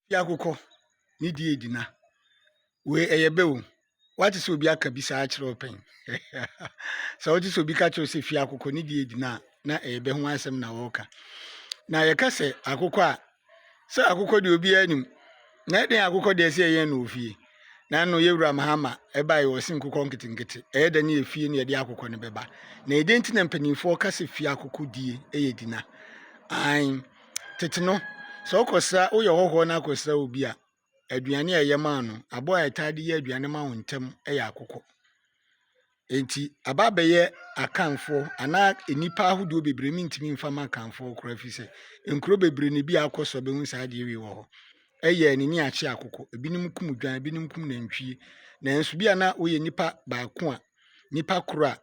Fiakokɔ ne di edi na. Wei ɛyɛ bɛ o. Wate sɛ obi aka bi saa kyerɛ wo pɛn? Sɛ wote sɛ obi ka kyerɛ wo sɛ fie akokɔ ne di edi na na ɛyɛ bɛ ho asɛm na wɔreka. Na yɛka sɛ akokɔ a sɛ akokɔ deɛ obiara nim na ɛdɛn akokɔ deɛ sɛ yɛyɛn no wɔ fie. Na ɛno yɛwura Mahama ɛba yɛ ɔse nkokɔ nketenkete ɛyɛ dɛ ne yɛ fie ne yɛde akokɔ no bɛba. Na ɛdɛn nti na mpanimfoɔ ka sɛ fie akokɔ die ɛyɛ di na? Ae. Tete no, sɛ wokɔsra woyɛ ɔhɔhoɔ na akɔsra obi a, aduane a ɛyɛ maa no, aboa a ɛtaa de yɛ aduane ma wo ntɛm yɛ akokɔ. Enti, aba abɛyɛ akanfoɔ anaa nnipa ahodoɔ bebree mentumi mfa ma akanfoɔ koraa ɛfiri sɛ nkuro bebree na ebi akɔ so bɛhu saa adeɛ wei wɔ hɔ. Ɛyɛ anini akye akokɔ, ebinom kum dwan, ebinom kum nantwie. Nanso bi a na woyɛ nipa baako a Nipa koro a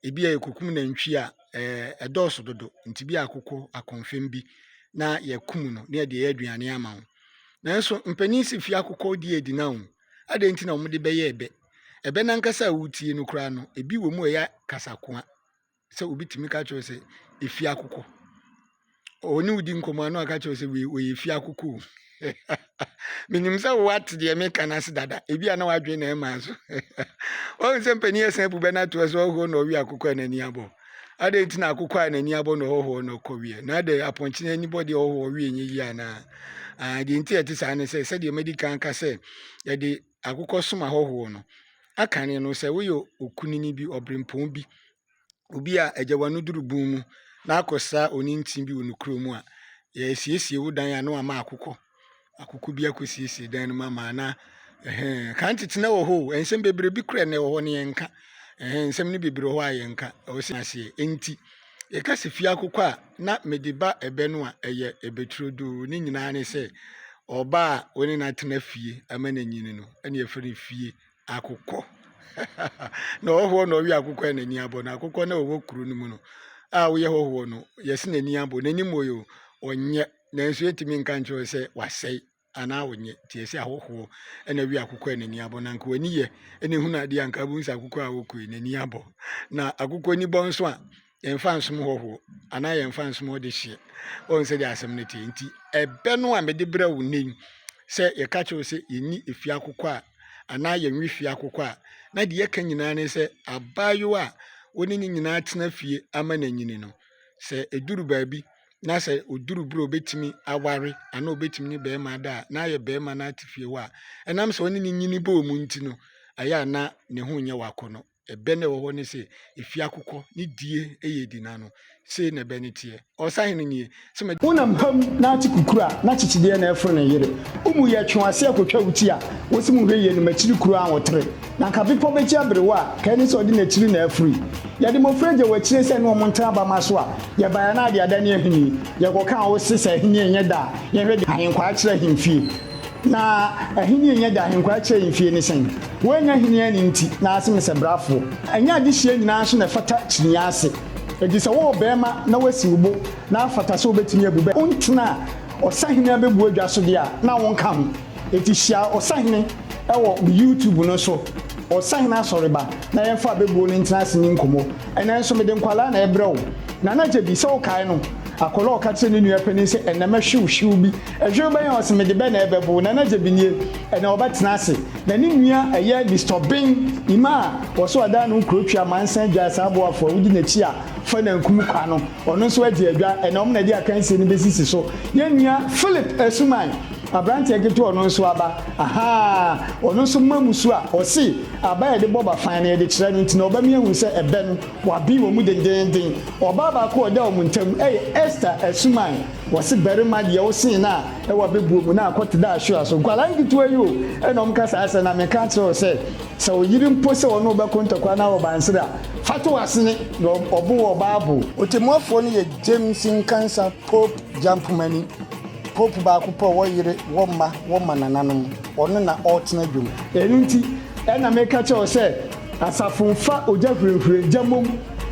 ebi a yɛkɔkum nantwie a, ɛdɔɔso dodo. Nti bi akoko akɔmfem bi na yɛkum no na yɛde yɛ aduane ama wo. Nanso mpanin si fi akokɔ di adi na wo. Adɛn nti na wɔde bɛyɛ ɛbɛ? Ɛbɛ nankasa a wotie no koraa no, ebi wɔ mu a ɛyɛ kasakoa. sɛ obi tumi ka kyerɛ wo sɛ efie akokɔ. Ɔne wo di nkɔmmɔ a na waka kyerɛ wo sɛ wei ɔyɛ efie akokɔ o. Menim sɛ woate deɛ meka no ase dada. Ebi a na wadwene na ɛmaa so. Wahu sɛ mpanin ɛsan abu bɛ no ato so ɔhɔhoɔ na ɔwe akokɔ a n'ani abɔ. Adɛn nti na akokɔ a n'ani abɔ na ɔhɔhoɔ na ɔkɔ weɛ? Na adɛn apɔnkye no ani bɔ deɛ ɔhɔhoɔ weɛ nyɛ yie anaa? Ah, deɛ nti a ɛte saa ne sɛ sɛdeɛ madi kan ka sɛ yɛde akokɔsom ahɔhoɔ no akane no sɛ woyɛ okunini bi, ɔberempɔn bi, obi a agya w'ano duru bun mu na akɔsra onintini bi wɔ ne kuro mu a, yɛasiesie wo dan a na wama akokɔ akokɔ bi akɔsiesie dan no mu ama anaa ɛhɛn kan tete na wɔ hɔ o nsɛm bebree bi kura na ɛwɔ hɔ no yɛnka ɛhɛn nsɛm no bebree wɔ hɔ a yɛnka ɛwɔ sɛ aseɛ nti Yɛka sɛ fie akokɔ a, na mede ba ɛbɛ no a ɛyɛ ɛbɛ turodoo ne nyinaa ne sɛ ɔba a wo ne no atena fie ama no anyini no ɛne yɛfrɛ no fie akokɔ na ɔhɔhoɔ na ɔwe akokɔ a n'ani abɔ no akokɔ na ɔwɔ kuro no mu no a woyɛ hɔhoɔ no yɛse n'ani abɔ n'anim oyo ɔnyɛ nanso yɛtumi nka nkyerɛ sɛ wasɛe anaa ɔnyɛ nti ɛsɛ ahɔhoɔ ɛna wi akokɔ a n'ani abɔ na nka w'ani yɛ ɛna ehunu adeɛ a nka abom sɛ akokɔ a ɔkɔ yi n'ani abɔ na akokɔ ani bɔ nso a yɛnfa nsom hɔhoɔ anaa yɛnfa nsom ɔde hyeɛ wɔn sɛ deɛ asɛm no te nti ɛbɛ no a mede brɛ wo nnɛ yi sɛ yɛka kyerɛw sɛ yɛnni efie akokɔ a anaa yɛnwe fie akokɔ a na deɛ yɛka nyinaa ne sɛ abaayewa a wɔne ne nyinaa tena fie ama n'anyini no sɛ ɛduru baabi na sɛ ɔduru berɛ a ɔbɛtumi aware anaa ɔbɛtumi ne barima ada a na ayɛ barima no ate fie hɔ a ɛnam sɛ ɔne ne nyini bɔɔ mu nti no ɛyɛ a na ne ho nyɛ wakɔ no ɛbɛ no ɛwɔ hɔ ne sɛ ɛfie akokɔ ne die ɛyɛ di n'ano sei na ɛbɛ no teɛ ɔsahe no nie sɛ ma wonam pam na ate kukuru a na kyekyedeɛ na ɛforo ne yere wo mu yɛ twe w'ase akɔtwa wo ti a wɔsi mu hwɛ yie no makyiri kuro a wɔtere Na anka bepɔ bɛkyia berewa a, ka ɛne sɛ ɔde n'akyiri na afiri. Yɛde mmɔfra gya wɔ akyire sɛ ɛne wɔn ntra abamma so a, yɛbae a na ade ada ne ahenni. Yɛkɔka a wɔse sɛ ahenni nyɛ da a, yɛnhwɛ deɛ ahenkwaa kyerɛ ahemfie. Na ahenni nyɛ da a ahenkwaa kyerɛ ahemfie ne sɛn? Woannya ahenni anne nti, na ase me sɛ brafoɔ. Ɛnyɛ adehyeɛ nyinaa nso na ɛfata kyiniiɛ ase. Enti sɛ wowɔ barima na woasi wo bo na afata sɛ wobɛtumi abu bɛ wontena a, ɔsahene abɛbua dwa so deɛ a, na wonka ho. Enti hyia Ɔsahene wɔ me YouTube no so, Ɔsahene Asɔreba, na yɛmfa abɛbuo no ntena ase nni nkɔmmɔ. Ɛnnɛ nso mede nkwadaa na ɛrebrɛ wo. Nana Gyebi, sɛ wokae no, akwadaa a ɔka kyerɛɛ ne nua panin sɛ, Ɛnnɛ mɛhwe wo hwew bi. Hwew bɛn a? Ɔse, Mede bɛ na ɛrebɛbo wo. Nana Gyebi nie. Ɛnnɛ wɔbɛtena ase. Na ne nua ɛyɛ Mister Ben Imah a ɔse ɔdan ne ho Kurotwi Amansan Dwae saa boafo a wodi n'akyi a fa nankum kwa no. Ɔno nso agye adwa, ɛnna wɔn na ɛde akansie no bɛsisi so. Yɛn nua Philip Asuman, aberanteɛ ketewa a ɔno nso aba, ahaa, ɔno nso mma mu su a ɔse aba a yɛde bɔ bafan no, yɛde kyerɛ no nti na ɔba mi ahu sɛ ɛbɛ no, wɔaben wɔn mu dendeenden. Ɔbaa baako a ɔda wɔn ntam yɛ Esther Asuman. Wɔse barima deɛ wosen no a, ɛwɔ abɛbuo mu na akɔ te dɛ ahwewa so. Nkwadaa nketewa yi o, ɛnna wɔka saa asɛm no, na meka akyerɛ wo sɛ, sɛ wo yere mpo sɛ ɔne wo bɛko ntɔkwa na ɔba nsere a, Fata w'asene na ɔbo wɔ Bible. Ɔtɛmmuafoɔ no yɛ James Nkansah Pope Gyamphomani, Pope baako pɛ a ɔwɔ yere, wɔ mma, wɔ mmanananom. Ɔno na ɔretena dwom. Ɛno nti na meka kyerɛ wo sɛ, Asafo mfa ogya hurahura gya mmom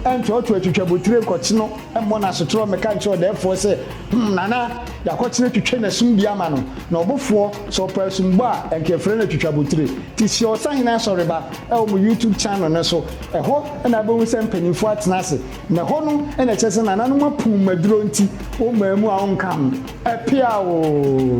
ntoatoa atwitwabotire nkɔkye no. mmɔ no asotorɔ mmɛka nkyerɛ ɔdɛɛfoɔ sɛ, Hum, Nana, Yɛakɔtena twitwa n'asum bi ama no, na ɔbofoɔ, sɛ ɔpɛ asumbɔ a, ɛnka yɛfrɛ no atwitwabotire. Te hyia Ɔsahene Asɔreba wɔ mo YouTube channel no so. Ɛhɔ na wobɛhu sɛ mpanimfoɔ atena ase, na ɛhɔ no na ɛkyerɛ sɛ Nana no ma puu mmaduro nti wommaa mu a wonka ho. Ɛpeaa oo!